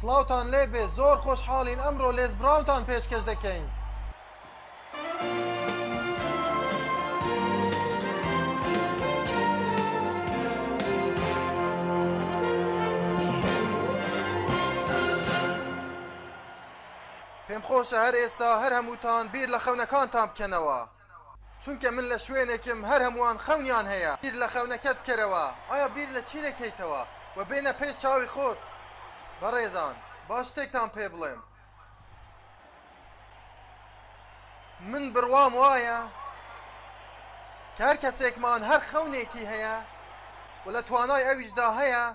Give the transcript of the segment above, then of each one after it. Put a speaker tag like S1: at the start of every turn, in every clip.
S1: سڵاوتان لێ بێ زۆر خۆشحاڵین ئەمڕۆ لێز براونتان پێشکەش دەکەین. پێم خۆشە هەر ئێستا هەر هەمووتان بیر لە خەونەکانتان بکەنەوە چونکە من لە شوێنێکم هەر هەمووان خەونیان هەیە. بیر لە خەونەکەت بکەرەوە، ئایا بیر لە چی دەکەیتەوە؟ وە بێنە پێش چاوی خۆت. بەڕێزان، با شتێکتان پێ بڵێم. من بڕوام وایە کە هەر کەسێکمان هەر خەونێکی هەیە و لە توانای ئەویشدا هەیە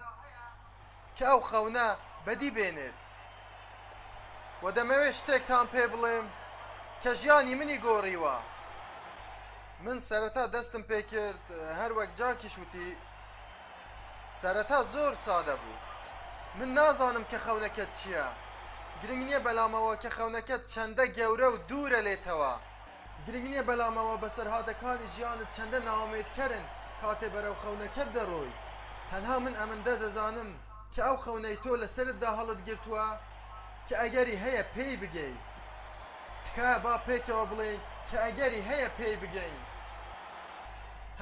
S1: کە ئەو خەونە بەدی بێنێت وە دەمەوێت شتێکتان پێ بڵێم کە ژیانی منی گۆڕیوە من سەرەتا دەستم پێ کرد هەر وەک جاکیش وتی سەرەتا زۆر سادە بوو من نازانم کە خەونەکەت چییە گرنگ نییە بەلامەوە کە خەونەکەت چەندە گەورە و دوورە لێتەوە گرنگ نیە بەلام ئەوە بەسەرهاتەکانی ژیانت چەندە نائومێد کەرن کاتێ بەرەو خەونەکەت دەرۆی تەنها من ئەمندە دەزانم کە ئەو خەونەی تۆ لەسەرتدا هەڵت گرتوە کە ئەگەری هەیە پێی بگەی تکایە با پێکەوە بڵێین کە ئەگەری هەیە پێی بگەین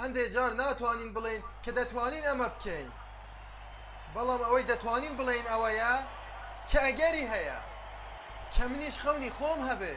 S1: هەندێ جار ناتوانین بڵێین کە دەتوانین ئەمە بکەین بەڵام ئەوەی دەتوانین بڵێین ئەوەیە کە ئەگەری هەیە کە منیش خەونی خۆم هەبێ.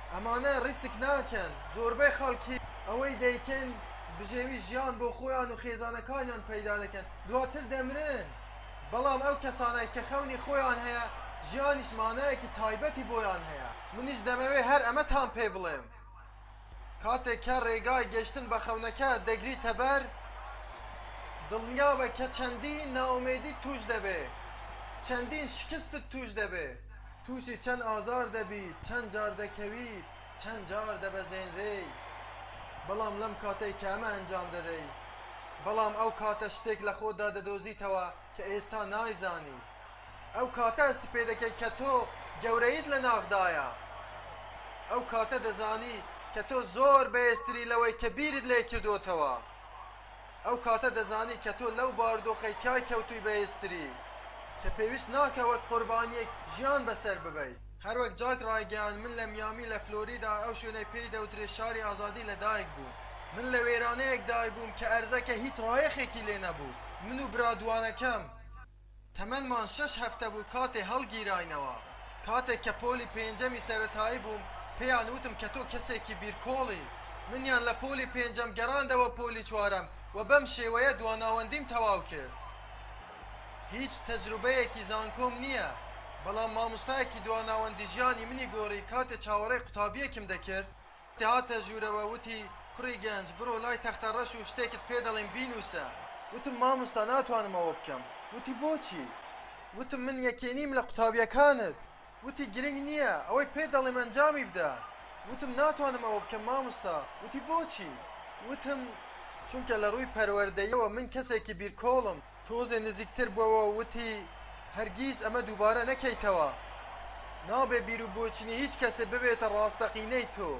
S1: ئەمانە ڕیسک ناکەن، زۆربەی خەڵکی ئەوەی دەیکەن بژێوی ژیان بۆ خۆیان و خێزانەکانیان پەیدا دەکەن، دواتر دەمرن، بەڵام ئەو کەسانەی کە خەونی خۆیان هەیە، ژیانیش مانایەکی تایبەتی بۆیان هەیە. منیش دەمەوێت هەر ئەمەتان پێ بڵێم، کاتێک کە ڕێگای گەیشتن بە خەونەکە دەگریتە بەر، دڵنیابە کە چەندین نائومێدیت تووش دەبێت، چەندین شکستت تووش دەبێت، تووشی چەند ئازار دەبی، چەند جار دەکەوی، چەند جار دەبەزێنرێی، بەڵام لەم کاتەی کە ئەمە ئەنجام دەدەی، بەڵام ئەو کاتە شتێک لە خۆتدا دەدۆزیتەوە کە ئێستا نایزانی. ئەو کاتە هەستی پێ دەکەی کە تۆ گەورەییت لە ناخدایە. ئەو کاتە دەزانی کە تۆ زۆر بەهێزتری لەوەی کە بیرت لێ کردۆتەوە. ئەو کاتە دەزانی کە تۆ لەو باردۆخەی تیای کەوتووی بەهێزتریت کە پێویست ناکا وەک قوربانییەک ژیان بەسەر ببەی. هەروەک جاک ڕایگەیاند، من لە میامی لە فلۆریدا ئەو شوێنەی پێی دەوترێت شاری ئازادی لەدایک بووم. من لە وێرانەیەکدای بووم کە ئەرزەکە هیچ ڕایەخێکی لێ نەبوو. من و برا دووانەکەم. تەمەنمان شەش هەفتە بوو کاتێ هەڵگیراینەوە. کاتێک کە پۆلی پێنجەمی سەرەتایی بووم، پێیان وتم کە تۆ کەسێکی بیرکۆڵی. منیان لە پۆلی پێنجەم گەڕاندەوە پۆلی چوارەم و بەم شێوەیە دواناوەندیم تەواو کرد. هیچ تەجروبەیەکی زانکۆم نییە، بەڵام مامۆستایەکی دواناوەندی ژیانی منی گۆڕی کاتێ چاوەڕێی قوتابییەکم دەکرد. هاتە ژوورەوە وتی، کوڕی گەنج بڕۆ لای تەختەڕەش و شتێکت پێ دەڵێم بینووسە. وتم، مامۆستا ناتوانم ئەوە بکەم. وتی، بۆچی؟ وتم، من یەکێ نیم لە قوتابییەکانت. وتی، گرنگ نییە، ئەوەی پێت دەڵێم ئەنجامی بدە. وتم، ناتوانم ئەوە بکەم مامۆستا. وتی، بۆچی؟ وتم، چونکە لە ڕووی پەروەردەییەوە من کەسێکی بیرکۆڵم. تۆزێ نزیکتر بۆوە و وتی، هەرگیز ئەمە دووبارە نەکەیتەوە. نابێ بیروبۆچونی هیچ کەسێ ببێتە ڕاستەقینەی تۆ.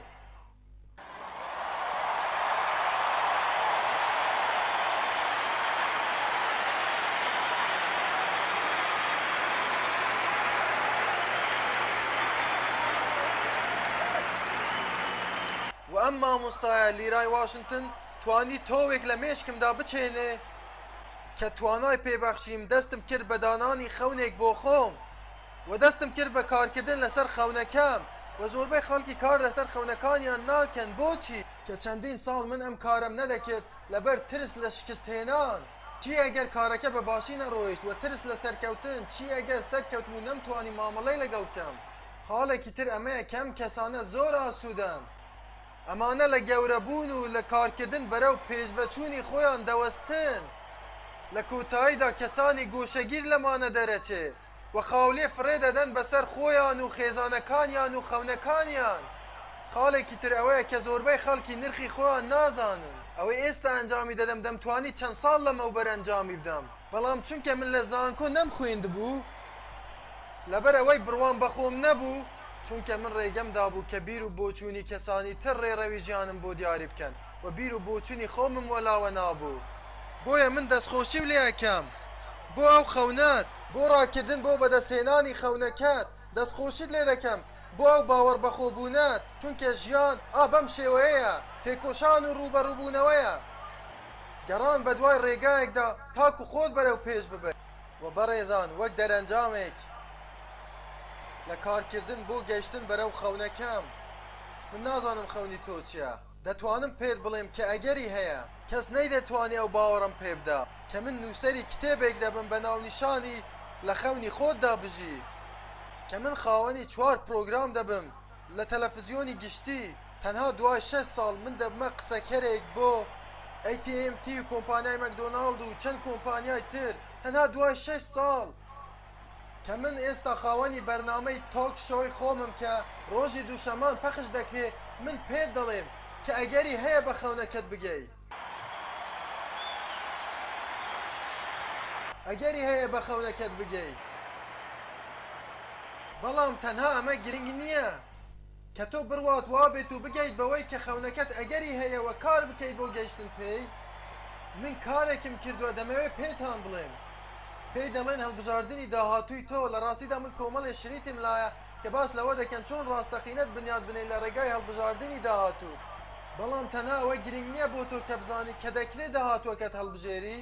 S1: و ئەم مامۆستایە لیرای واشنتن توانی تۆوێک لە مێشکمدا بچێنێ. کە توانای پێبەخشیم دەستم کرد بە دانانی خەونێک بۆ خۆم و دەستم کرد بە کارکردن لەسەر خەونەکەم و زۆربەی خەڵکی کار لەسەر خەونەکانیان ناکەن بۆچی؟ کە چەندین ساڵ من ئەم کارەم نەدەکرد لەبەر ترس لە شکست هێنان، چی ئەگەر کارەکە بە باشی نەڕۆیشت وە ترس لە سەرکەوتن، چی ئەگەر سەرکەوتم و نەمتوانی مامەڵەی لەگەڵ بکەم، خاڵێکی تر ئەمەیە کە ئەم کەسانە زۆر ئاسوودەن ئەمانە لە گەورەبوون و لە کارکردن بەرەو پێشڤەچوونی خۆیان دەوەستن، لە کۆتاییدا کەسانی گۆشەگیر لەمانە دەرەچێ و خاولێ فڕێ دەدەن بەسەر خۆیان و خێزانەکانیان و خەونەکانیان. خاڵێکی تر ئەوەیە کە زۆربەی خەڵکی نرخی خۆیان نازانن. ئەوەی ئێستا ئەنجامی دەدەم دەمتوانی چەند ساڵ لەمەوبەر ئەنجامی بدەم، بەڵام چونکە من لە زانکۆ نەمخوێندبوو، لەبەر ئەوەی بڕوام بە خۆم نەبوو، چونکە من رێگەم دابوو کە بیر و بۆچوونی کەسانی تر رێڕەوی ژیانم بۆ دیاری بکەن و بیر و بۆچوونی خۆمم وەلاوە نابوو، بۆیە من دەستخۆشیو لێ ئەکەم بۆ ئەو خەونەت، بۆ راکردن بۆ بەدەستهێنانی خەونەکەت، دەستخۆشیت لێ دەکەم بۆ ئەو باوەڕبەخۆبوونەت، چونکە ژیان ئا بەم شێوەیەیە، تێکۆشان و رووبەڕووبوونەوەیە، گەڕان بەدوای رێگایەکدا تاکو خۆت بەرەو پێش ببەیت. و بەڕێزان وەک دەرەنجامێک لە کارکردن بۆ گەشتن بەرەو خەونەکەم من نازانم خەونی تۆ چیە دەتوانم پێت بڵێم کە ئەگەری هەیە کەس نەیدەتوانی ئەو باوەڕەم پێ بدا کە من نووسەری کتێبێک دەبم بە ناونیشانی لە خەونی خۆتدا بژی کە من خاوەنی چوار پرۆگرام دەبم لە تەلەفزیۆنی گشتی تەنها دوای شەش ساڵ من دەبمە قسەکەرێک بۆ ئەی تی ئێم تی و کۆمپانیای مەکدۆناڵد و چەند کۆمپانیای تر تەنها دوای شەش ساڵ کە من ئێستا خاوەنی بەرنامەی تۆک شۆی خۆمم کە ڕۆژی دووشەمان پەخش دەکرێ من پێت دەڵێم کە ئەگەری هەیە بە خەونەکەت بگەی. ئەگەری هەیە بە خەونەکەت بگەی بەڵام تەنها ئەمە گرنگ نییە کە تۆ بڕوات وابێت و بگەیت بەوەی کە خەونەکەت ئەگەری هەیەوە کار بکەیت بۆ گەیشتن پێی من کارێکم کردووە دەمەوێ پێتان بڵێم پێی دەڵێن هەڵبژاردنی داهاتووی تۆ لە ڕاستیدا من کۆمەڵێ شریتم لایە کە باس لەوە دەکەن چۆن ڕاستەقینەت بنیات بنێیت لە ڕێگای هەڵبژاردنی داهاتوو، بەڵام تەنها ئەوە گرنگ نییە بۆ تۆ کە بزانیت کە دەکرێت داهاتووەکەت هەڵبژێری،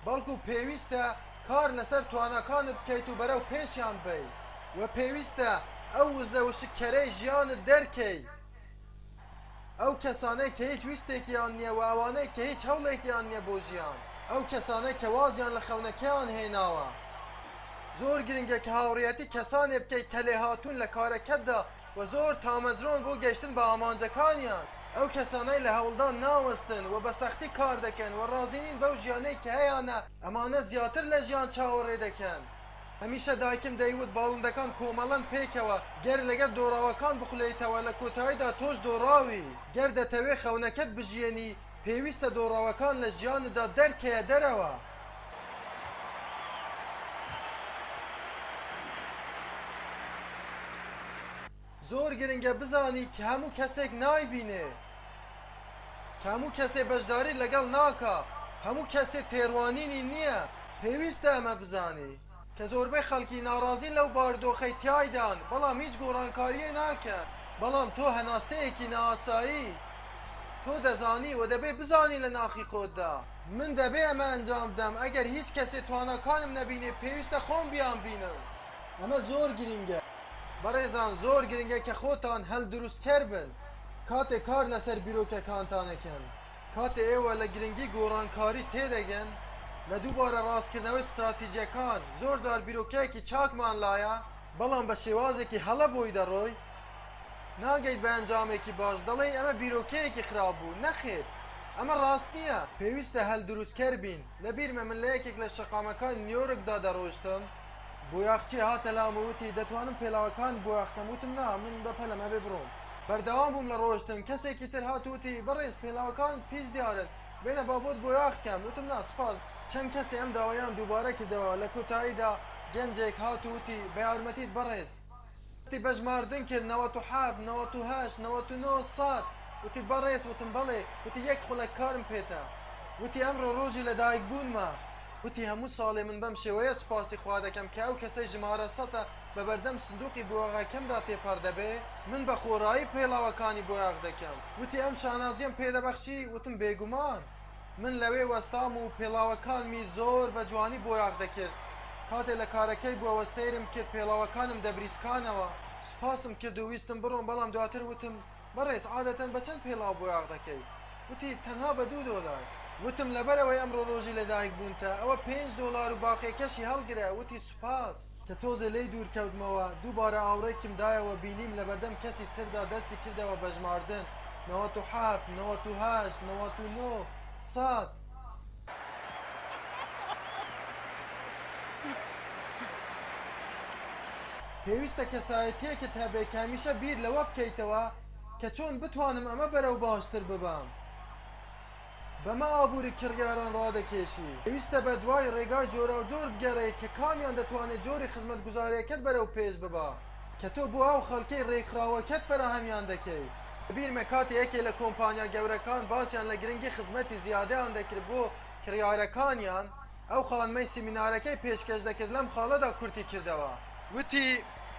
S1: بەڵکو پێویستە کار لەسەر تواناکانت بکەیت و بەرەو پێشیان بەیت و پێویستە ئەو وزە وشککەرەی ژیانت دەرکەیت. ئەو کەسانەی کە هیچ ویستێکیان نییە و ئەوانەی کە هیچ هەوڵێکیان نییە بۆ ژیان. ئەو کەسانەی کە وازیان لە خەونەکەیان هێناوە. زۆر گرنگە کە هاوڕێیەتی کەسانێک بکەیت کە لێهاتوون لە کارەکەتدا و زۆر تامەزرۆن بۆ گەیشتن بە ئامانجەکانیان. ئەو کەسانەی لە هەوڵدان ناوەستن و بە سەختی کار دەکەن و ڕازی نین بەو ژیانەی کە هەیانە، ئەمانە زیاتر لە ژیان چاوەڕێ دەکەن. هەمیشە دایکم دەیوت باڵندەکان کۆمەڵەن پێکەوە گەر لەگەر دۆڕاوەکان بخولێیتەوە لە کۆتاییدا تۆش دۆڕاوی گەر دەتەوێ خەونەکەت بژیێنی پێویستە دۆڕاوەکان لە ژیانتدا دەرکەیە دەرەوە. زۆر گرنگە بزانی کە هەموو کەسێک نایبینێ، کە هەموو کەسێ بەشداری لەگەڵ ناکا، هەموو کەسێ تێڕوانینی نییە. پێویستە ئەمە بزانی کە زۆربەی خەڵکی ناڕازین لەو باردۆخەی تیایدان بەڵام هیچ گۆڕانکارییە ناکەن. بەڵام تۆ هەناسەیەکی نائاسایی تۆ دەزانی و دەبێ بزانی لە ناخی خۆتدا. من دەبێ ئەمە ئەنجام بدەم، ئەگەر هیچ کەسێ تواناکانم نەبینێ پێویستە خۆم بیانبینم. ئەمە زۆر گرنگە. بەڕێزان زۆر گرنگە کە خۆتان هەلدروستکەر بن کاتێ کار لەسەر بیرۆکەکانتان ئەکەن، کاتێ ئێوە لە گرنگی گۆڕانکاری تێدەگەن لە دووبارە ڕاستکردنەوەی ستراتیجەکان، زۆر جار بیرۆکەیەکی چاکمان لایە، بەڵام بە شێوازێکی هەڵە بۆی دەڕۆی ناگەیت بە ئەنجامێکی باش، دەڵێی ئەمە بیرۆکەیەکی خراپ بوو، نەخێر ئەمە ڕاست نییە. پێویستە هەلدروستکەر بین، لە بیرمە من لە یەکێک لە شەقامەکانی نیۆرکدا دەڕۆشتم، بۆیاخچێ هاتە لام و وتی، دەتوانم پێلاوەکانت بۆ یاخکەم، وتم، نا، من بە پەلەم ئەبێ بڕۆم. بەردەوام بووم لە ڕۆشتن، کەسێکی تر هات و وتی، بەڕێز پێلاوەکانت پیس دیارن، بێنە با بۆت بۆیاخکەم، وتم، نا، سپاس. چەند کەسێ ئەم داوایەیان دووبارە کردەوە، لە کۆتاییدا گەنجێک هات و وتی، بە یارمەتیت بەڕێز. وتی بە ژماردن کرد نەوەت و حەفت نەوەت و هەشت نەوەت و نۆ سەد وتی بەڕێز وتم بەڵێ وتی یەک خولەک کارم پێتە وتی ئەمڕۆ ڕۆژی لەدایکبوونمە وتی هەموو ساڵێ من بەم شێوەیە سوپاسی خوا دەکەم کە ئەو کەسەی ژمارە سەتە بە بەردەم سندووقی بۆیاغەکەمدا تێپەڕ دەبێ من بە خۆڕایی پێڵاوەکانی بۆیاغ دەکەم وتی ئەم شانازییەم پێ دەبەخشی وتم بێگومان من لەوێ وەستام و پێڵاوەکانمی زۆر بە جوانی بۆیاخ دەکرد. کاتێ لە کارەکەی بووەوە سەیرم کرد پێڵاوەکانم دەبریسکانەوە. سوپاسم کرد و ویستم بڕۆم بەڵام دواتر وتم، بەڕێز عادەتەن بە چەند پێڵاو بۆیاخ دەکەی؟ وتی، تەنها بە دوو دۆلار. وتم، لەبەرئەوەی ئەمڕۆ رۆژی لەدایکبوونتە ئەوە پێنج دۆلار و باقیەکەشی هەڵگرە. وتی، سوپاس. کە تۆزێ لێی دوور کەوتمەوە، دووبارە ئاوڕێکم دایەوە بینیم لە بەردەم کەسی تردا دەستی کردەوە بە ژماردن، نەوەت و حەفت، نەوەت و هەشت، نەوەت و نۆ، سەد. پێویستە کەسایەتییەکت هەبێ کە هەمیشە بیر لەوە بکەیتەوە کە چۆن بتوانم ئەمە بەرەو باشتر ببەم. بەمە ئابووری کڕیاران ڕادەکێشی. پێویستە بەدوای ڕێگای جۆراوجۆر بگەڕێی کە کامیان دەتوانێت جۆری خزمەتگوزاریەکەت بەرەو پێش ببا کە تۆ بۆ ئەو خەڵکەی ڕێکخراوەکەت فەراهەمیان دەکەی. لەبیرمە کاتێ یەکێ لە کۆمپانیا گەورەکان باسیان لە گرنگی خزمەتی زیادەیان دەکرد بۆ کڕیارەکانیان، ئەو خانمەی سیمینارەکەی پێشکەش دەکرد لەم خاڵەدا کورتی کردەوە. وتی،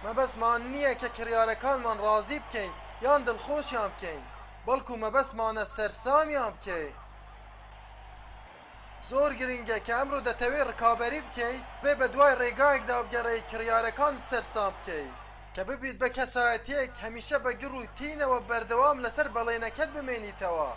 S1: مەبەستمان نییە کە کڕیارەکانمان ڕازی بکەین یان دڵخۆشیان بکەین. بەڵکو مەبەستمانە سەرسامیان بکەین. زۆر گرنگە کە ئەمڕۆ دەتەوێت ڕکابەری بکەیت، بێ بەدوای ڕێگایەکدا بگەڕێی کڕیارەکانت سەرسام بکەیت، کە ببیت بە کەسایەتییەک هەمیشە بە گڕ و تینەوە بەردەوام لەسەر بەڵێنەکەت بمێنیتەوە.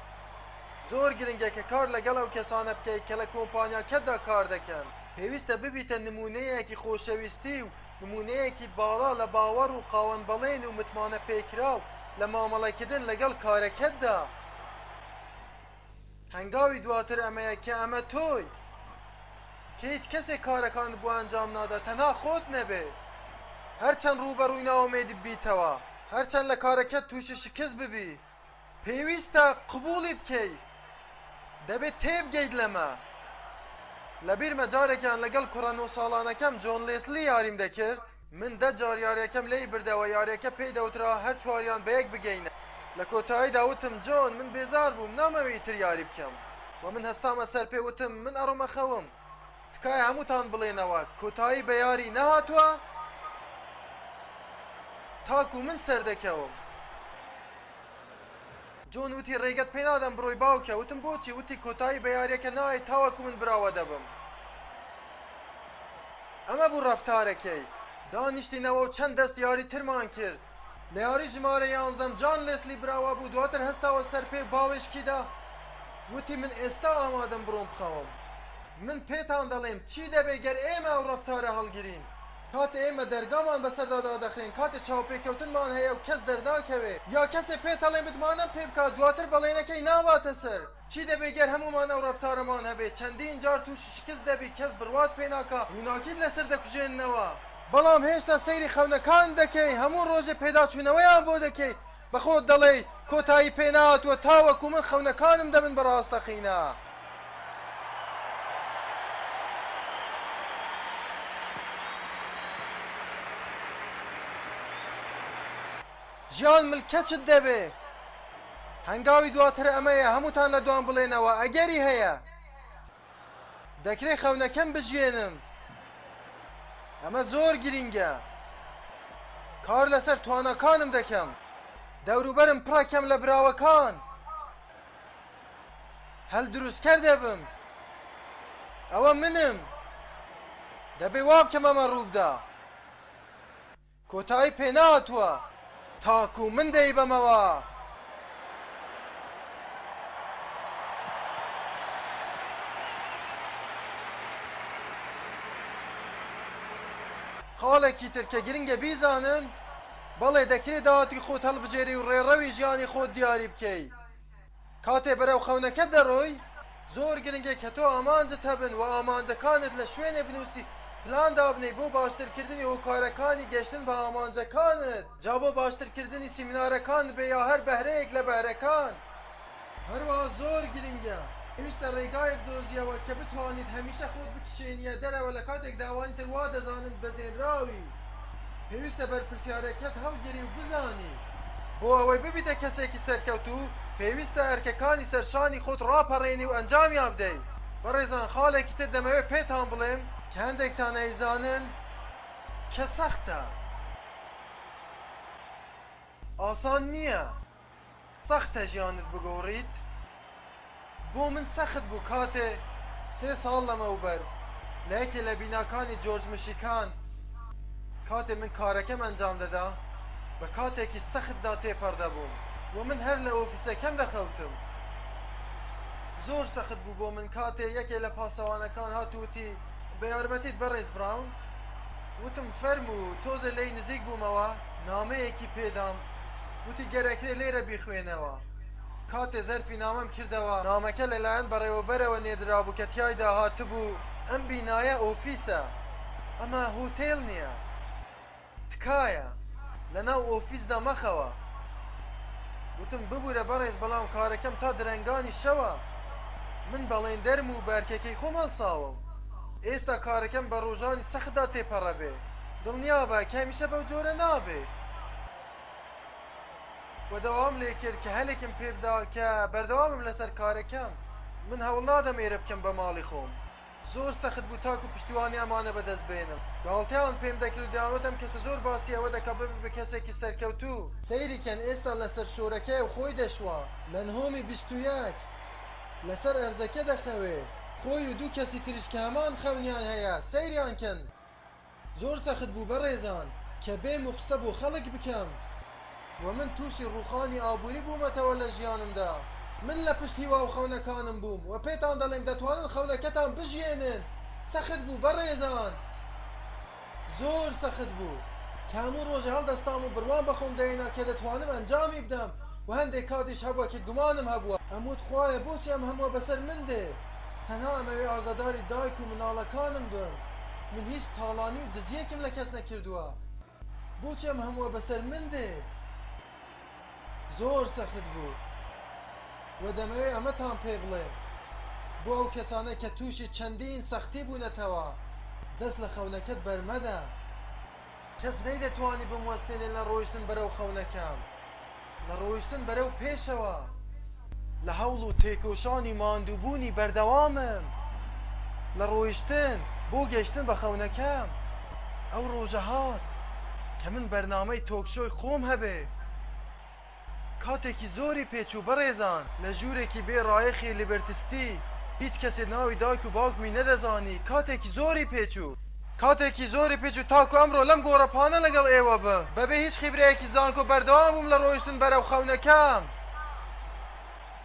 S1: زۆر گرنگە کە کار لەگەڵ ئەو کەسانە بکەیت کە لە کۆمپانیاکەتدا کاردەکەن. پێویستە ببیتە نموونەیەکی خۆشەویستی و نموونەیەکی باڵا لە باوەڕ و خاوەن بەڵێن و متمانە پێکراو لە مامەڵەکردن لەگەڵ کارەکەتدا. هەنگاوی دواتر ئەمەیە کە ئەمە تۆی. کە هیچ کەسێک کارەکانت بۆ ئەنجام نادات تەنها خۆت نەبێت. هەرچەند ڕووبەڕووی نائومێدی ببیتەوە، هەرچەند لە کارەکەت تووشی شکست ببیت، پێویستە قبوڵی بکەی دەبێت تێبگەیت لەمە لەبیرمە جارێکیان لەگەڵ کوڕە نۆ ساڵانەکەم جۆن لێسلی یاریم دەکرد من دە جار یاریەکەم لێی بردەوە یاریەکە پێی دەوترا هەر چواریان بەیەک بگەینە لە کۆتاییدا وتم جۆن من بێزار بووم نامەوێ ئیتر یاری بکەم وە من هەستامە سەر پێ وتم من ئەڕۆمە خەوم تکایە هەمووتان بڵێنەوە کۆتایی بە یاری نەهاتووە تاکو من سەردەکەوم. جۆن وتی ڕێگەت پێ نادەم بڕۆی باوکە وتم بۆچی وتی کۆتایی بە یاریەکە نایەی تاوەکو من براوە دەبم ئەمە بوو ڕەفتارەکەی دانیشتینەوە و چەند دەست یاری ترمان کرد لە یاری ژمارە یانزەم جان لێسلی براوە بوو دواتر هەستاوە سەر پێ و باوێشکی دا وتی من ئێستا ئامادەم بڕۆم بخەوم. من پێتان دەڵێم چی دەبێت گەر ئێمە ئەو ڕەفتارە هەڵگرین، کاتێ ئێمە دەرگامان بەسەردا دادەخرێن، کاتێ چاوپێکەوتنمان هەیە و کەس دەرناکەوێ، یا کەسێ پێتەڵێ متمانەم پێ بکە، دواتر بەڵێنەکەی ناباتە سەر، چی دەبێ گەر هەموومان ئەو ڕەفتارەمان هەبێ، چەندین جار تووشی شکست دەبی، کەس بڕوات پێ ناکا، ڕووناکیت لەسەر دەکوژێننەوە، بەڵام هێشتا سەیری خەونەکانت دەکەی، هەموو ڕۆژێ پێداچوونەوەیان بۆ دەکەی، بە خۆت دەڵێی کۆتایی پێ نەهاتووە تاوەکو من خەونەکانم دەبن بە ڕاستەقینە. ژیان ملکەچت دەبێ. هەنگاوی دواتر ئەمەیە هەمووتان لە دوام بڵێنەوە ئەگەری هەیە. دەکرێت خەونەکەم بژیێنم ئەمە زۆر گرینگە کار لەسەر تواناکانم دەکەم دەوروبەرم پڕەکەم لە براوەکان هەل دروستکەر دەبم ئەوە منم دەبێ وابکەم ئەمە ڕووبدا کۆتایی پێ نەهاتووە تاکوو من دەیبەمەوە. خاڵێکی تر کە گرنگە بیزانن، بەڵێ دەکرێ داهاتی خۆت هەڵبژێری و ڕێڕەوی ژیانی خۆت دیاری بکەی، کاتێ بەرەو خەونەکەت دەڕۆی زۆر گرنگە کە تۆ ئامانجت هەبن و ئامانجەکانت لە شوێنێ بنووسی پلان دابنێی بۆ باشترکردنی هۆکارەکانی گەشتن بە ئامانجەکانت جا بۆ باشترکردنی سیمینارەکانت بێ یا هەر بەهرەیەک لە بەهرەکان. هەروەها زۆر گرنگە پێویستە ڕێگایەک بدۆزیەوە کە بتوانیت هەمیشە خۆت بکشێنیە دەرەوە لە کاتێکدا ئەوانی تر وادەزانن بەزێنراوی. پێویستە بەرپرسیارێتیت هەڵگری و بزانی بۆ ئەوەی ببیتە کەسێکی سەرکەوتوو پێویستە ئەرکەکانی سەر شانی خۆت ڕاپەڕێنی و ئەنجامیان بدەی بەڕێزان خاڵێکی تر دەمەوێت پێتان بڵێم کە هەندێکتان ئەیزانن کە سەختە ئاسان نییە. سەختە ژیانت بگۆڕیت بۆ من سەخت بوو کاتێ سێ ساڵ لەمەوبەر لە یەکێ لە بیناکانی جۆرج مشیکان کاتێ من کارەکەم ئەنجام دەدا بە کاتێکی سەختدا تێپەڕ دەبووم و من هەر لە ئۆفیسەکەم دەخەوتم زۆر سەخت بوو بۆ من کاتێ یەکێ لە پاسەوانەکان هات وتی بە یارمەتیت بەڕێز براون وتم فەرموو تۆزێ لێی نزیک بوومەوە نامەیەکی پێدام وتی گەر ئەکرێ لێرە بیخوێنەوە. کاتێ زەرفی نامەم کردەوە، نامەکە لە لایەن بەڕێوەبەرەوە نێردرابوو کە تیایدا هاتبوو، ئەم بینایە ئۆفیسە، ئەمە هۆتێل نیە. تکایە لە ناو ئۆفیسدا مەخەوە. وتم ببورە بەڕێز بەڵام کارەکەم تا درەنگانی شەوە. من بەڵێندەرم و بە ئەرکەکەی خۆم هەڵساوم. ئێستا کارەکەم بە ڕۆژانی سەختدا تێپەڕەبێ. دڵنیابە کە هەمیشە بەو جۆرە نابێ. و داوام لێ کرد کە هەلێکم پێ بدا کە بەردەوامم لەسەر کارەکەم من هەوڵ نادەم ئێرە بکەم بە ماڵی خۆم زۆر سەخت بوو تاکو پشتیوانی ئەمانە بەدەست بێنم گاڵتەیان پێم دەکرد و دەیانوتم کەسە زۆر باسی ئەوە دەکا ببێ بە کەسێکی سەرکەوتوو سەیری کەن ئێستا لەسەر شۆرەکەیە و خۆی دەشوا لە نهۆمی بیست و یەک لەسەر ئەرزەکە دەخەوێ خۆی و دوو کەسی تریش کە هەمان خەونیان هەیە سەیریان کەن. زۆر سەخت بوو بەڕێزان کە بێم و قسە بۆ خەڵک بکەم و من تووشی ڕووخانی ئابووری بوومەتەوە لە ژیانمدا من لە پشت هیوا و خەونەکانم بووم و پێتان دەڵێم دەتوانن خەونەکەتان بژیێنن سەخت بوو بەڕێزان زۆر سەخت بوو کە هەموو ڕۆژە هەڵدەستام و بڕوام بە خۆم دەهێنا کە دەتوانم ئەنجامی بدەم و هەندێک کاتیش هەبووە کە گومانم هەبووە ئەموت خوایە بۆچی ئەم هەمووە بەسەر من دێ؟ تەنها ئەمەوێ ئاگاداری دایک و مناڵەکانم بم من هیچ تاڵانی و دزیەکم لە کەس نەکردوە بۆچی ئەم هەموە بەسەر من دێ زۆر سەخت بوو وە دەمەوێ ئەمەتان پێ بڵێم بۆ ئەو کەسانەی کە توشی چەندین سەختی بونەتەوە دەست لە خەونەکەت بەرمەدە کەس نەیدەتوانی بموەستێنێ لە ڕۆیشتن بەرەو خەونەکە، لە ڕۆیشتن بەرەو پێشەوە. لە هەوڵ و تێکۆشانی ماندووبوونی بەردەوامم لە ڕۆیشتن بۆ گەیشتن بە خەونەکەم، ئەو ڕۆژە هات کە من بەرنامەی تۆکشۆی خۆم هەبێ. کاتێکی زۆری پێ چوو بەڕێزان لە ژوورێکی بێ ڕایەخی لیبرتی ستی هیچ کەسێ ناوی دایک و باوکمی نەدەزانی کاتێکی زۆری پێ چوو، کاتێکی زۆری پێ چوو تاکو ئەمڕۆ لەم گۆڕەپانە لەگەڵ ئێوە بم بەبێ هیچ خیبرەیەکی زانکۆ بەردەوام بووم لە ڕۆیشتن بەرەو خەونەکەم.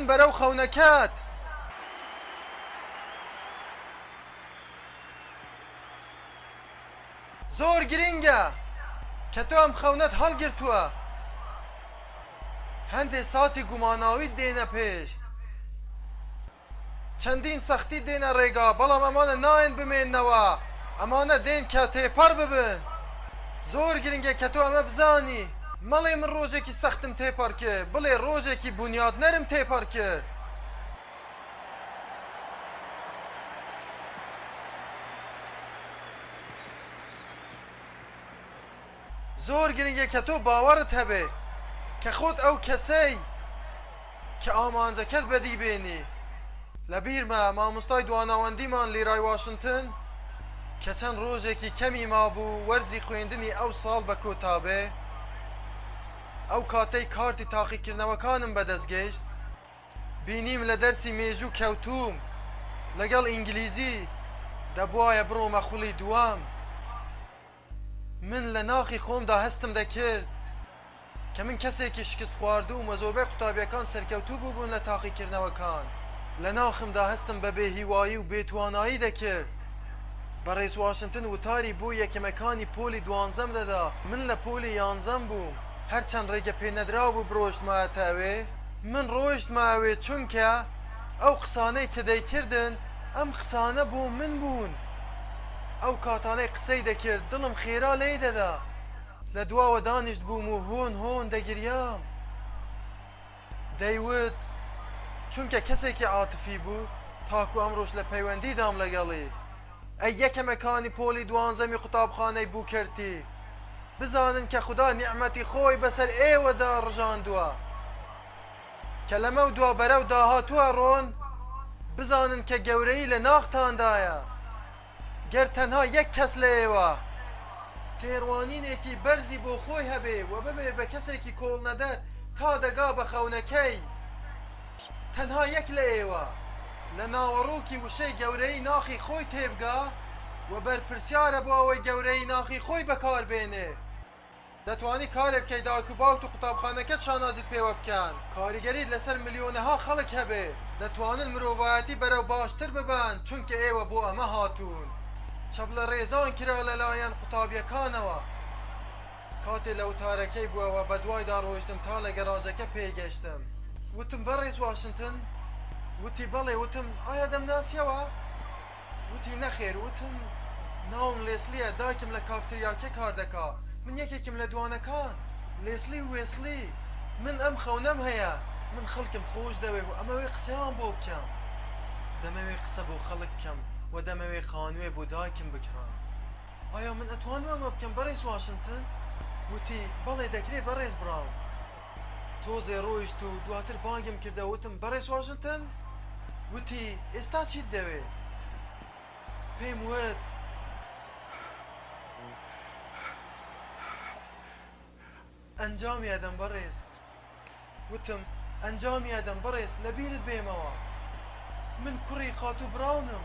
S1: بەرەو بەرەو خەونەکەت. زۆر گرینگە کە تۆ ئەم خەونەت هەڵگرتووە هەندێ ساتی گوماناویت دێنە پێش چەندین سەختیت دێنە ڕێگا بەڵام ئەمانە نایەن بمێنەوە ئەمانە دێن کە تێپەڕ ببن زۆر گرینگە کە تۆ ئەمە بزانی. مەڵێ من ڕۆژێکی سەختم تێپەڕ کرد، بڵێ ڕۆژێکی بونیادنەرم تێپەڕ کرد. زۆر گرنگە کە تۆ باوەڕت هەبێ کە خۆت ئەو کەسەی، کە ئامانجەکەت بەدی بێنی. لەبیرمە مامۆستای دواناوەندیمان لیرای واشنتن کە چەند رۆژێکی کەمی مابوو وەرزی خوێندنی ئەو ساڵ بە کۆتا بێ، ئەو کاتەی کارتی تاقیکردنەوەکانم بەدەست گەیشت بینیم لە دەرسی مێژوو کەوتووم لەگەڵ ئینگلیزی، دەبوایە بڕۆمە خولی دووەم. من لە ناخی خۆمدا هەستم دەکرد کە من کەسێکی شکست خواردووم و زۆربەی قوتابیەکان سەرکەوتوو بووبوون لە تاقیکردنەوەکان. لە ناخمدا هەستم بە بێهیوایی و بێتوانایی دەکرد. بەڕێز واشنتن وتاری بۆ یەکەمەکانی پۆلی دوانزەم دەدا. من لە پۆلی یانزەم بووم. هەرچەند ڕێگە پێ نەدرابوو بڕۆیشتمایەتە ئەوێ، من ڕۆیشتمە ئەوێ چونکە ئەو قسانەی کە دەیکردن ئەم قسانە بۆ من بوون. ئەو کاتانەی قسەی دەکرد دڵم خێرا لێی دەدا، لە دواوە دانیشتبووم و هۆن هۆن دەگریام، دەیوت چونکە کەسێکی عاتفی بوو تاکو ئەمڕۆش لە پەیوەندیدام لەگەڵی. ئەی یەکەمەکانی پۆلی دوانزەمی قوتابخانەی بوکەرتی، بزانن کە خودا نیعمەتی خۆی بەسەر ئێوەدا ڕژاندووە. کە لەمەو دوا بەرەو داهاتوو ئەڕۆن، بزانن کە گەورەیی لە ناختاندایە، گەر تەنها یەک کەس لە ئێوە تێڕوانینێکی بەرزی بۆ خۆی هەبێ و ببێ بە کەسێکی کۆڵنەدەر تا دەگا بە خەونەکەی، تەنها یەک لە ئێوە لە ناوەڕۆکی وشەی گەورەیی ناخی خۆی تێبگا و بەرپرسیارە بۆ ئەوەی گەورەیی ناخی خۆی بەکار بێنێ. دەتوانی کارێک بکەی دایک و باوکت و قوتابخانەکەت شانازیت پێوە بکەن، کاریگەریت لەسەر ملیۆنەها خەڵک هەبێ، دەتوانن مرۆڤایەتی بەرەو باشتر ببەن چونکە ئێوە بۆ ئەمە هاتوون. چەپ لە ڕێزان کرا لەلایەن قوتابیەکانەوە. کاتێ لە وتارەکەی بوەوە بەدوایدا ڕۆیشتم تا لە گەراجەکە پێی گەشتم. وتم بەڕێز واشنتن؟ وتی بەڵێ وتم ئایا دەمناسیەوە؟ وتی نەخێر وتم ناوم لێسلیە دایکم لە کافتریاکێ کار دەکا من یەکێکم لە دوانەکان لێسلی وێسلی من ئەم خەونەم هەیە من خەلکم خۆش دەوێ و ئەمەوێ قسەیان بۆ بکەم دەمەوێ قسە بۆ خەلک بکەم وە دەمەوێ خانوێ بۆ دایکم بکڕم ئایا من ئەتوانم ئەمە بکەم بەڕێز واشنتن وتی بەڵێ دەکرێ بەڕێز بڕاو. تۆزێ ڕۆیشت و دواتر بانگم کردە وتم بەڕێز واشنتن وتی ئێستا چیت دەوێ پێم وت ئەنجامی ئەدەم بەڕێز وتم ئەنجامی ئەدەم بەڕێز لەبیرت بێمەوە من کوڕی خاتوو بڕاونم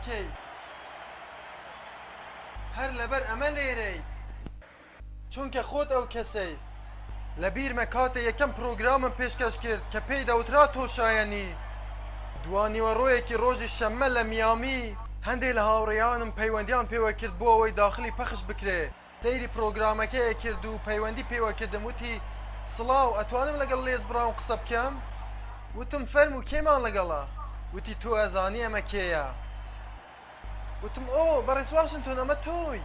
S1: کەی؟ هەر لەبەر ئەمە لێرەی؟ چونکە خۆت ئەو کەسەی. لەبیرمە کاتێ یەکەم پرۆگرامم پێشکەش کرد کە پێی دەوترا تۆ شایەنی. دوانیوەڕۆیەکی ڕۆژی شەممە لە میامی. هەندێ لە هاوڕێیانم پەیوەندیان پێوە کرد بۆ ئەوەی داخلی پەخش بکرێ. سەیری پرۆگرامەکەی ئەکرد و پەیوەندی پێوە کردم وتی سڵاو ئەتوانم لەگەڵ لێز براون قسە بکەم وتم فەرم و کێمان لەگەڵە وتی تۆ ئەزانی ئەمە کێیە وتم ئۆ بەڕێز واشنتۆن ئەمە تۆی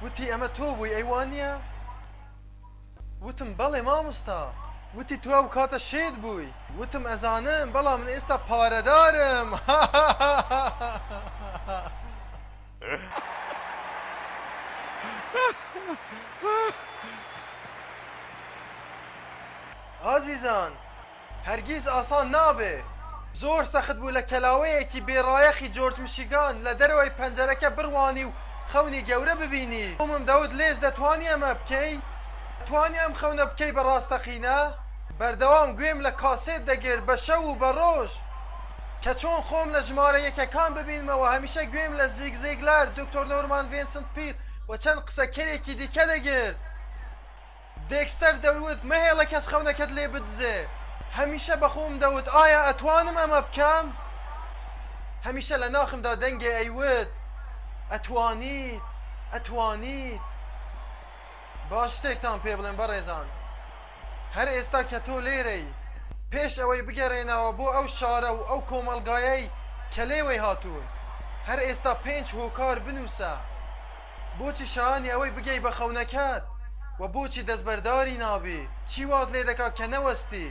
S1: وتی ئەمە تۆ بووی ئەیوانە وتم بەڵێ مامۆستا وتی تو ئەو کاتە شێت بووی وتم ئەزانم بەڵام من ئێستا پارەدارم ئازیزان هەرگیز ئاسان نابێ. زۆر سەخت بوو لە کەلاوەیەکی بێ ڕایەخی جۆرج مشیگان لە دەرەوەی پەنجەرەکە بڕوانی و خەونی گەورە ببینی. تۆمم دەوت لێژ دەتوانی ئەمە بکەی؟ دەتوانی ئەم خەونە بکەی بە ڕاستەقینە؟ بەردەوام گوێم لە کاسێت دەگرت بە شەو و بە ڕۆژ. کە چۆن خۆم لە ژمارە یەکەکان ببینمەوە، هەمیشە گوێم لە زیگ زیگلار، دکتۆر نۆرمان ڤینسنت پیل و چەند قسەکەرێکی دیکە دەگرت. دێکستەر دەیوت، مەهێڵە کەس خەونەکەت لێ بدزێ. هەمیشە بە خۆم دەوت، ئایا ئەتوانم ئەمە بکەم؟ هەمیشە لە ناخمدا دەنگێ ئەیوت، ئەتوانیت، ئەتوانیت. با شتێکتان پێ بڵێم بەڕێزان هەر ئێستا کە تۆ لێرەی پێش ئەوەی بگەرێنەوە بۆ ئەو شارە و ئەو کۆمەلگایەی کە لێوەی هاتوون هەر ئێستا پێنج هۆکار بنووسە بۆچی شایانی ئەوەی بگەی بە خەونەکەت و بۆچی دەستبەرداری نابی چی وات لێ دەکا کە نەوەستی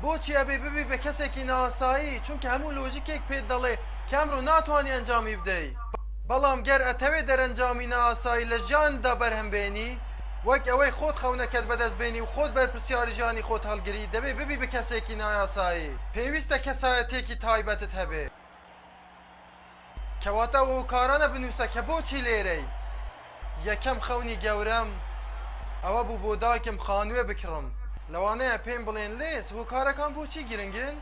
S1: بۆچی ئەبێ ببی بە کەسێکی نائاسایی چونکە هەموو لۆژیکێک پێت دەڵێ کە ئەمرۆ ناتوانی ئەنجامی بدەی بەڵام گەر ئەتەوێ دەرەنجامی نائاسایی لە ژیانتدا بەرهەم بێنی وەک ئەوەی خۆت خەونەکەت بەدەست بێنی و خۆت بەرپرسیاری ژیانی خۆت هەڵگری دەبێ ببی بە کەسێکی نایاسایی پێویستە کەسایەتیەکی تایبەتت هەبێ. کەواتە ئەو هۆکارانە بنووسە کە بۆچی لێرەی. یەکەم خەونی گەورەم ئەوە بوو بۆ دایکم خانووێ بکڕم. لەوانەیە پێم بڵێن، لیز، هۆکارەکان بۆچی گرنگن؟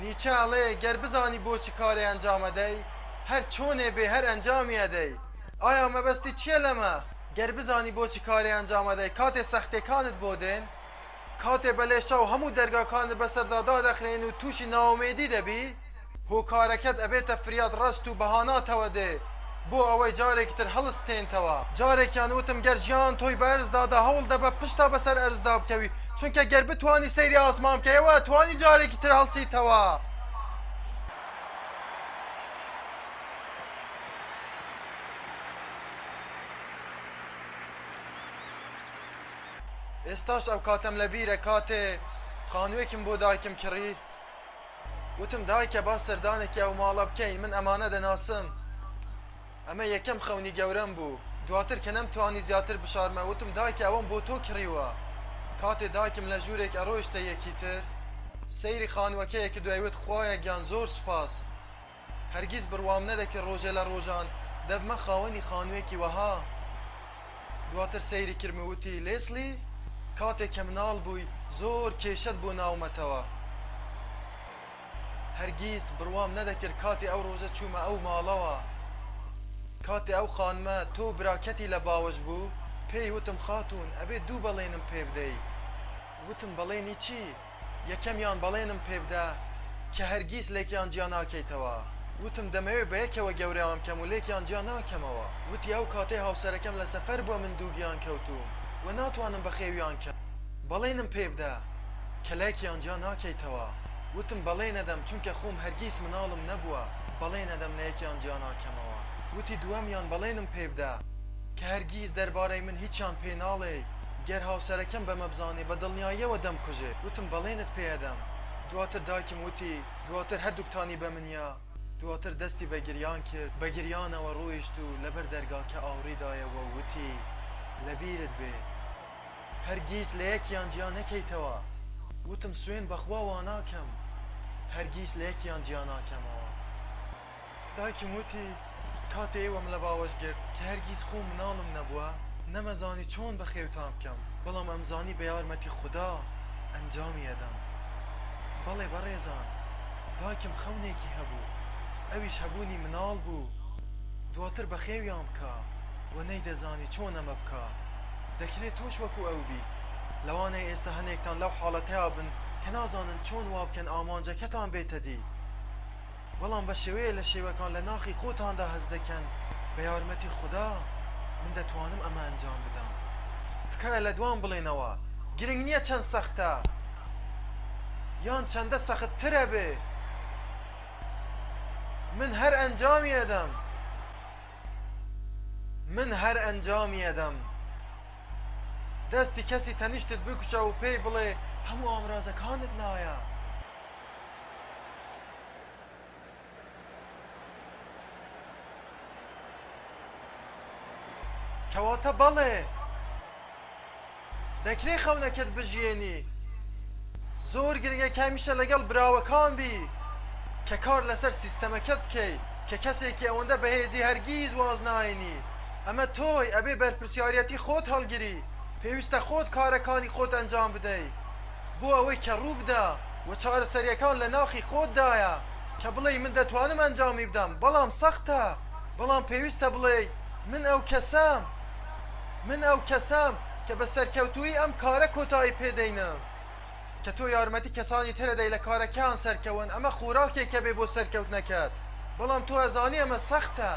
S1: نیچە ئەڵێ، گەر بزانی بۆ چ کارێ ئەنجام ئەدەی، هەر چۆنێ بێ هەر ئەنجامی ئەدەی. ئایا مەبەستت چییە لەمە؟ گەر بزانی بۆ چ کارێ ئەنجام ئەدەی، کاتێ سەختییەکانت بۆ دێن، کاتێ بە لێشاو هەموو دەرگاکانت بەسەردا دادەخرێن و تووشی نائومێدی دەبی، هۆکارەکەت ئەبێتە فریاد ڕەست و بەهاناتەوە دێ بۆ ئەوەی جارێکی تر هەڵستێنتەوە. جارێکیان وتم گەر ژیان تۆی بە ئەرز دادا هەوڵ دە بە پشتا بەسەر ئەرزدا بکەوی، چونکە گەر بتوانی سەیری ئاسمان بکەی ئەوە ئەتوانی جارێکی تر هەڵسیتەوە. ئێستاش ئەو کاتەم لە بیرە کاتێ خانووێکم بۆ دایکم کڕی وتم دایکە با سەردانێکی ئەو ماڵە بکەین من ئەمانە دەناسم ئەمە یەکەم خەونی گەورەم بوو دواتر کە نەم توانی زیاتر بشارمە وتم دایکە ئەوەم بۆ تۆ کڕیوە کاتێ دایکم لە ژوورێک ئەڕۆیشتە یەکی تر سەیری خانووەکەیە کە دوای وت خوایە گیان زۆر سوپاس هەرگیز بڕوام نەدەکرد ڕۆژێ لە ڕۆژان دەبمە خاوەنی خانوویەکی وەها. دواتر سەیری کرد و وتی، لێسلی، کاتێ کە مناڵ بووی زۆر کێشەت بۆ ناومەتەوە. هەرگیز بڕوام نەدەکرد کاتێ ئەو ڕۆژە چوومە ئەو ماڵەوە. کاتێ ئەو خانمە تۆ و براکەتی لە باوەش بوو، پێی وتم خاتوون ئەبێ دوو بەڵێنم پێ بدەی. وتم بەڵێنی چی؟ یەکەمیان بەڵێنم پێبدە کە هەرگیز لێکیان جیا ناکەیتەوە، وتم دەمەوێت بە یەکەوە گەورەیان بکەم و لێکیان جیا ناکەمەوە، وتی ئەو کاتەی هاوسەرەکەم لە سەفەر بووە من دووگیان کەوتووم و ناتوانم بەخێویان کەم، بەڵێنم پێبدە کە لێکیان جیا ناکەیتەوە، وتم بەڵێنەدەم چونکە خۆم هەرگیز مناڵم نەبووە، بەڵێنەدەم لە یەکیان جیا ناکەمەوە، وتی دووەمیان بەڵێنم پێبدە کە هەرگیز دەربارەی من هیچیان پێ ناڵێی، گەر هاوسەرەکەم بەمە بزانێ بە دڵنیاییەوە دەمکوژێ. وتم بەڵێنت پێ ئەدەم. دواتر دایکم وتی، دواتر هەردووکتانی بە منیا. دواتر دەستی بە گریان کرد، بە گریانەوە ڕۆیشت و لەبەر دەرگاکە ئاوڕی دایەوە و وتی، لەبیرت بێ. هەرگیز لە یەکیان جیا نەکەیتەوە. وتم سوێن بە خوا واناکەم. هەرگیز لە یەکیان جیا ناکەمەوە. دایکم وتی، کاتێ ئێوەم لە باوەش گرت، کە هەرگیز خۆم مناڵم نەبووە، نەمەزانی چۆن بەخێوتان بکەم، بەڵام ئەمزانی بە یارمەتی خودا ئەنجامی ئەدەم. بەڵێ بەڕێزان، دایکم خەونێکی هەبوو، ئەویش هەبوونی مناڵ بوو، دواتر بەخێویان بکا و نەیدەزانی چۆن ئەمە بکا. دەکرێ تۆش وەکو ئەو بیت. لەوانەیە ئێستا هەنێکتان لەو حاڵەتەیا بن کە نازانن چۆن وا بکەن ئامانجەکەتان بێتە دی. بەڵام بە شێوەیە لە شێوەکان لە ناخی خۆتاندا هەست دەکەن بە یارمەتی خودا من دەتوانم ئەمە ئەنجام بدەم تکایە لە دوام بڵێنەوە گرنگ نییە چەند سەختە یان چەندە سەخت ترە بێ من هەر ئەنجامی ئەدەم من هەر ئەنجامی ئەدەم دەستی کەسی تەنیشتت بکوشە و پێی بڵێ هەموو ئامرازەکانت لایە کەواتە بەڵێ دەکرێ خەونەکەت بژیێنی زۆر گرنگە کە هەمیشە لەگەڵ براوەکان بی کە کار لەسەر سیستەمەکە بکەی کە کەسێکی ئەوەندە بەهێزی هەرگیز واز ناێنی ئەمە تۆی ئەبێ بەرپرسیارەتی خۆت هەڵگری پێویستە خۆت کارەکانی خۆت ئەنجام بدەی بۆ ئەوەی کە ڕووبدا و چارەسەریەکان لە ناخی خۆت دایە کە بڵێی من دەتوانم ئەنجامی بدەم بەڵام سەختە بەڵام پێویستە بڵێی من ئەو کەسەم من ئەو کەسەم کە بە سەرکەوتووی ئەم کارە کۆتایی پێدەینم کە تۆ یارمەتی کەسانی ترەدەی لە کارەکەیان سەرکەون ئەمە خۆراکێکە بێ بۆ سەرکەوتنەکەت بەڵام تۆ ئەزانی ئەمە سەختە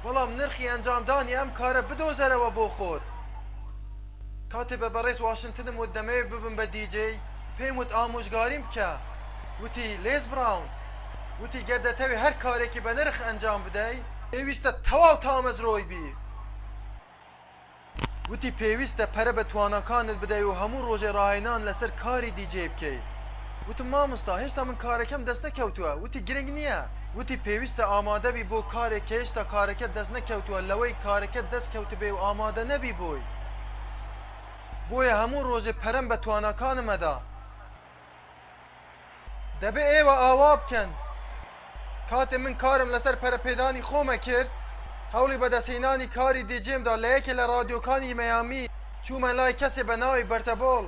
S1: بەڵام نرخی ئەنجامدانی ئەم کارە بدۆزەرەوە بۆ خۆت کاتێ بە بەڕێز واشنتنم وت دەمەوێت ببم بە دیجەی پێم وت ئامۆژگاریم بکە وتی لێز براون وتی گەر دەتەوێ هەر کارێکی بەنرخ ئەنجام بدەی پێویستە تەواو تامەزرۆی بی وتی پێویستە پەرە بە تواناکانت بدەی و هەموو ڕۆژێ ڕاهێنان لەسەر کاری دی جەی بکەی وتم مامۆستا هێشتا من کارەکەم دەست نەکەوتووە وتی گرنگ نییە وتی پێویستە ئامادەبی بۆ کارێک کە هێشتا کارەکەت دەست نەکەوتووە لەوەی کارەکەت دەست کەوتبێ و ئامادە نەبی بۆی بۆیە هەموو ڕۆژێ پەرەم بە تواناکانم ئەدا. دەبێ ئێوە ئاوا بکەن. کاتێ من کارم لەسەر پەرەپێدانی خۆم ئەکرد، هەوڵی بەدەستهێنانی کاری دیجێم دا لە یەکێ لە ڕادیۆکانی مەیامی، چوومە لای کەسێ بە ناوی بەرتەبۆڵ،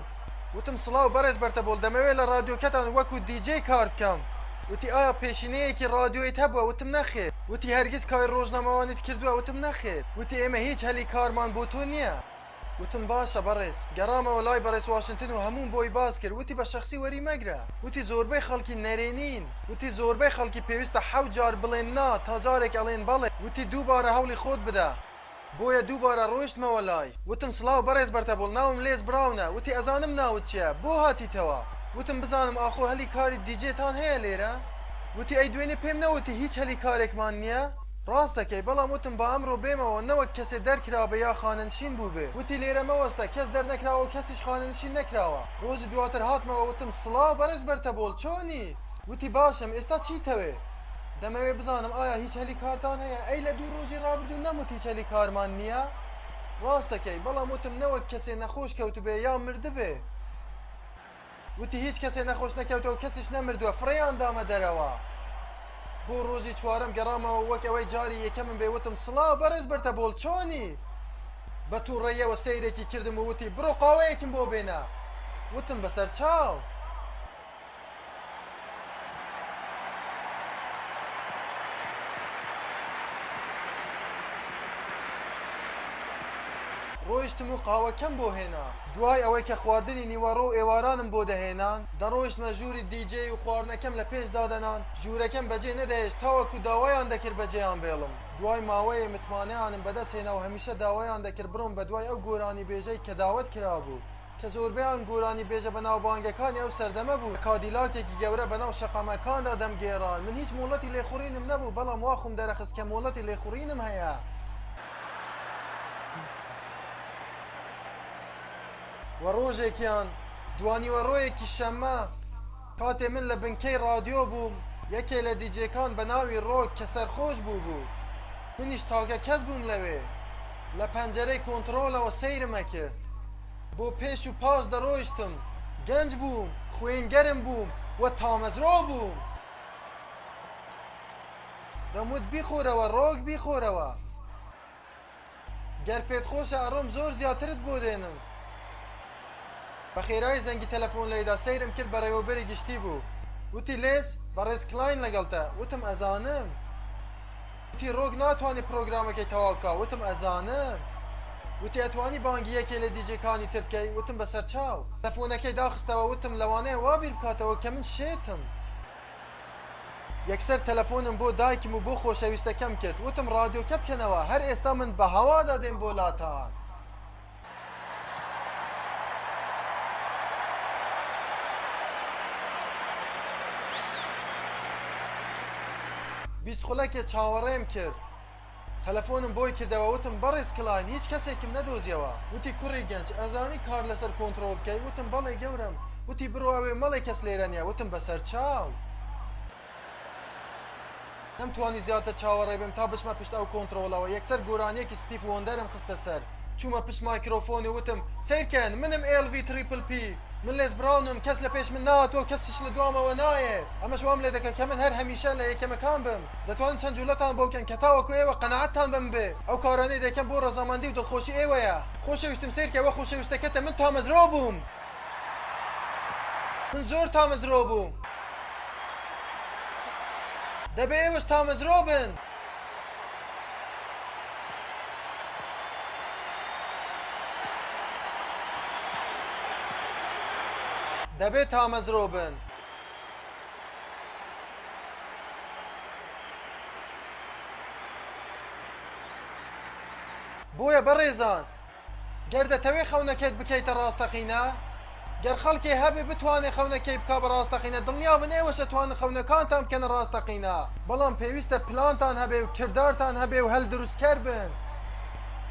S1: وتم سڵاو بەڕێز بەرتەبۆڵ دەمەوێ لە ڕادیۆکەتان وەکوو دیجێ کار بکەم، وتی ئایا پێشینەیەکی ڕادیۆیت هەبووە؟ وتم نەخێر، وتی هەرگیز کاری ڕۆژنامەوانیت کردووە؟ وتم نەخێر، وتی ئێمە هیچ هەلی کارمان بۆ تۆ نییە. وتم باشە بەڕێز، گەڕامەوە لای بەڕێز واشنتن و هەمووم بۆی باس کرد، وتی بە شەخسی وەری مەگرە، وتی زۆربەی خەڵکی نەرێنین، وتی زۆربەی خەڵکی پێویستە حەوت جار بڵێن نا تا جارێک ئەڵێن بەڵێ، وتی دووبارە هەوڵی خۆت بدە، بۆیە دووبارە ڕۆیشتمەوە لای، وتم سڵاو بەڕێز بەرتەبۆڵ ناوم لێز بڕاونە، وتی ئەزانم ناوت چیە، بۆ هاتیتەوە؟ وتم بزانم ئاخۆ هەلی کاری دیجێتان هەیە لێرە؟ وتی ئەی دوێنێ پێم نەوتی هیچ هەلی کارێکمان نیە؟ ڕاست دەکەی بەڵام وتم با ئەمڕۆ بێمەوە نەوەک کەسێ دەرکرابێ یا خانەنشین بووبێ وتی لێرە مەوەستە کەس دەرنەکراوەو کەسیش خانەنشین نەکراوە ڕۆژی دواتر هاتمەوە وتم سڵاو بەڕێز بەرتەبۆڵ چۆنی وتی باشم ئێستا چیتەوێ دەمەوێ بزانم ئایا هیچ هەلی کارتان هەیە ئەی لە دوو ڕۆژی ڕابردوو نەموت هیچ هەلی کارمان نییە ڕاست دەکەی بەڵام وتم نەوەک کەسێ نەخۆش کەوتبێ یا مردبێ. وتی هیچ کەسێ نەخۆش نەکەوتەوە کەسیش نەمردووە فڕێیان دامە دەرەوە بۆ ڕۆژی چوارم گەڕامەوە وەک ئەوەی جاری یەکەمم بێ وتم سڵاو بەڕێز بەرتە بۆڵ چۆنی بە تووڕێیەوە سەیرێکی کردم و وتی بڕۆ قاوەیەکم بۆ بێنە وتم بەسەر چاو ڕۆیشتم و قاوەکەم بۆ هێنا. دوای ئەوەی کە خواردنی نیوەڕۆ و ئێوارانم بۆ دەهێنان، دەڕۆیشتمە ژووری دی جەی و خواردنەکەم لە پێش دادەنان، ژوورەکەم بەجێ نەدەهێشت تاوەکو داوایان دەکرد بەجێیان بێڵم. دوای ماوەیێ متمانەیانم بەدەست هێنا و هەمیشە داوایان دەکرد بڕۆم بەدوای ئەو گۆرانیبێژەی کە داوەت کرابوو. کە زۆربەیان گۆرانیبێژە بەناوبانگەکانی ئەو سەردەمە بوون، لە کادیلاکێکی گەورە بەناو شەقامەکاندا دەمگێڕان. من هیچ مۆڵەتی لێخوڕینم نەبوو، بەڵام وا خۆم دەرەخست کە مۆڵەتی لێخوڕینم هەیە. و ڕۆژێکیان، دوانیوەڕۆیەکی شەممە، کاتێ من لە بنکەی ڕادیۆ بووم، یەکێ لە دیجێکان بە ناوی ڕۆک کە سەرخۆش بوو بوو. منیش تاکە کەس بووم لەوێ. لە پەنجەرەی کۆنتڕۆڵەوە سەیرم ئەکرد. بۆ پێش و پاش دەڕۆیشتم. گەنج بووم، خوێن گەرم بووم و تامەزرۆ بووم. دەموت بیخۆرەوە ڕۆک بیخۆرەوە. گەر پێت خۆشە ئەڕۆم زۆر زیاترت بۆ دێنم. بە خێرایی زەنگی تەلەفۆن لێدا سەیرم کرد بەڕێوەبەری گشتی بوو وتی لێس بەڕێز کلاین لەگەڵتە وتم ئەزانم وتی ڕۆک ناتوانێ پرۆگرامەکەی تەواو بکا وتم ئەزانم وتی ئەتوانی بانگی یەکێ لە دیجەکانی تر بکەی وتم بەسەرچاو تەلەفۆنەکەی داخستەوە وتم لەوانەیە وا بیر بکاتەوە کە من شێتم یەکسەر تەلەفۆنم بۆ دایکم و بۆ خۆشەویستەکەم کرد وتم ڕادیۆکە بکەنەوە هەر ئێستا من بە هەوادا دێم بۆ لاتان. بیست خولەکێ چاوەڕێم کرد. تەلەفۆنم بۆی کردەوە وتم بەڕێز کلاین هیچ کەسێکم نەدۆزیەوە وتی کوڕی گەنج ئەزانی کار لەسەر کۆنتڕۆڵ بکەی وتم بەڵێ گەورەم وتی بڕۆ ئەوێ مەڵێ کەس لێرە نیە وتم بەسەر چاو نەمتوانی زیاتر چاوەڕێ بم تا بچمە پشت ئەو کۆنتڕۆڵەوە یەکسەر گۆرانیەکی ستیف وۆندەرم خستە سەر چومە پشت مایکرۆفۆن و وتم سەیرکەن منم ئێڵ ڤی تریپل پی من لێس براونم کەس لە پێش من ناهاتووە کەسیش لە دوامەوە نایێت ئەمەش وام لێ دەکەت کە من هەر هەمیشە لە یەکەمەکان بم دەتوانن چەند جولەتان بۆ بکەن کە تاوەکو ئێوە قەناعەتتان بە من بێت ئەو کارانەی دەیکەم بۆ ڕەزامەندی و دڵخۆشی ئێوەیە خۆشەویستم سەیرکە وە خۆشەویستەکەتە من تامەزرۆ بووم من زۆر تامەزرۆ بووم دەبێ ئێوەش تامەزرۆ بن. دەبێت تامەزرۆ بن. بۆیە بەڕێزان گەر دەتەوێ خەونەکەت بکەیتە ڕاستەقینە، گەر خەڵکێ هەبێ بتوانێ خەونەکەی بکا بە ڕاستەقینە، دڵنیابن ئێوەش ئەتوانن خەونەکانتان بکەنە ڕاستەقینە، بەڵام پێویستە پلانتان هەبێ و کردارتان هەبێ و هەلدروستکەر بن،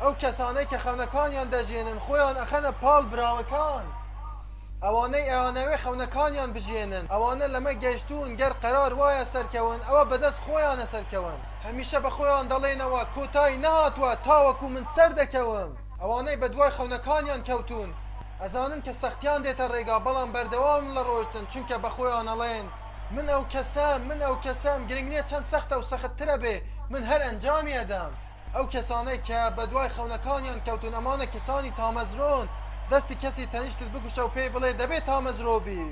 S1: ئەو کەسانەی کە خەونەکانیان دەژیێنن خۆیان ئەخەنە پاڵ براوەکان، ئەوانەی ئەیانەوێ خەونەکانیان بژیێنن ئەوانە لەمە گەشتوون گەر قەرار وایە سەرکەون ئەوە بەدەست خۆیانە سەرکەون. هەمیشە بە خۆیان دەڵێنەوە کۆتای نەهاتووە تاوەکو من سەردەکەوم. ئەوانەی بەدوای خەونەکانیان کەوتوون ئەزانن کە سەختیان دێتە ڕێگا بەڵام بەردەوامن لە ڕۆشتن چونکە بە خۆیان ئەڵێن من ئەو کەسەم من ئەو کەسەم گرنگ نیە چەند سەختە و سەخت ترە بێ من هەر ئەنجامی ئەدەم ئەو کەسانەی کە بەدوای خەونەکانیان کەوتوون ئەمانە کەسانی تامەزرۆن دەستی کەسی تەنیشتت بکوشە و پێی بڵێ دەبێ تامەزرۆ بی.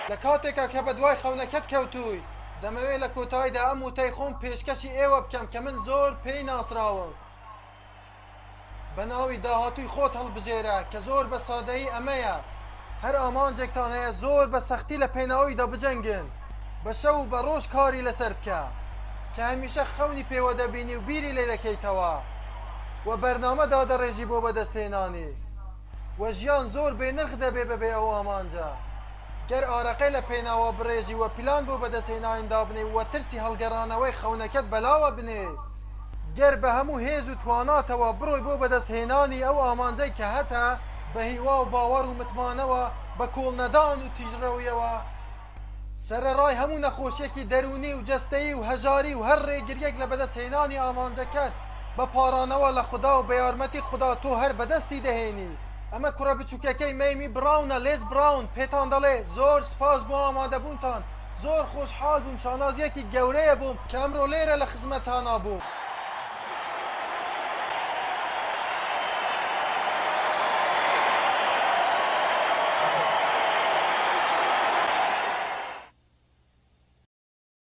S1: لە کاتێکا کە بە دوای خەونەکەت کەوتووی، دەمەوێ لە کۆتاییدا ئەم وتەی خۆم پێشکەشی ئێوە بکەم کە من زۆر پێی ناسراوم بە ناوی داهاتووی خۆت هەڵبژێرە کە زۆر بە سادەیی ئەمەیە، هەر ئامانجێکتان هەیە زۆر بە سەختی لە پێناویدا بجەنگن، بە شەو و بە ڕۆژ کاری لەسەر بکە، کە هەمیشە خەونی پێوە دەبینی و بیری لێ دەکەیتەوە و بەرنامە دادەڕێژی بۆ بەدەستهێنانی و ژیان زۆر بێ نرخ دەبێ بەبێ ئەو ئامانجە گەر ئارەقەی لە پێناوە بڕێژی و پلان بۆ بەدەستهێنانی دابنێی و ترسی هەڵگەڕانەوەی خەونەکەت بەلاوە بنێی گەر بە هەموو هێز و تواناتەوە بڕۆی بۆ بەدەست هێنانی ئەو ئامانجەی کە هەتە، بە هیوا و باوەڕ و متمانەوە، بە کۆڵ نەدان و تیژڕەویەوە، سەرەڕای هەموو نەخۆشیەکی دەروونی و جەستەیی و هەژاری و هەر ڕێگریەک لە بەدەست هێنانی ئامانجەکەت، بە پاڕانەوە لە خودا و بە یارمەتی خودا تۆ هەر بەدەستی دەهێنیت. ئەمە کوڕە بچوکەکەی مەیمی بڕاونە، لێز بڕاون، پێتان دەڵێ، زۆر سپاس بۆ ئامادەبوونتان. زۆر خۆشحاڵ بووم شانازیەکی گەورەیە بۆم کە ئەمڕۆ لێرە لە خزمەتانا بووم.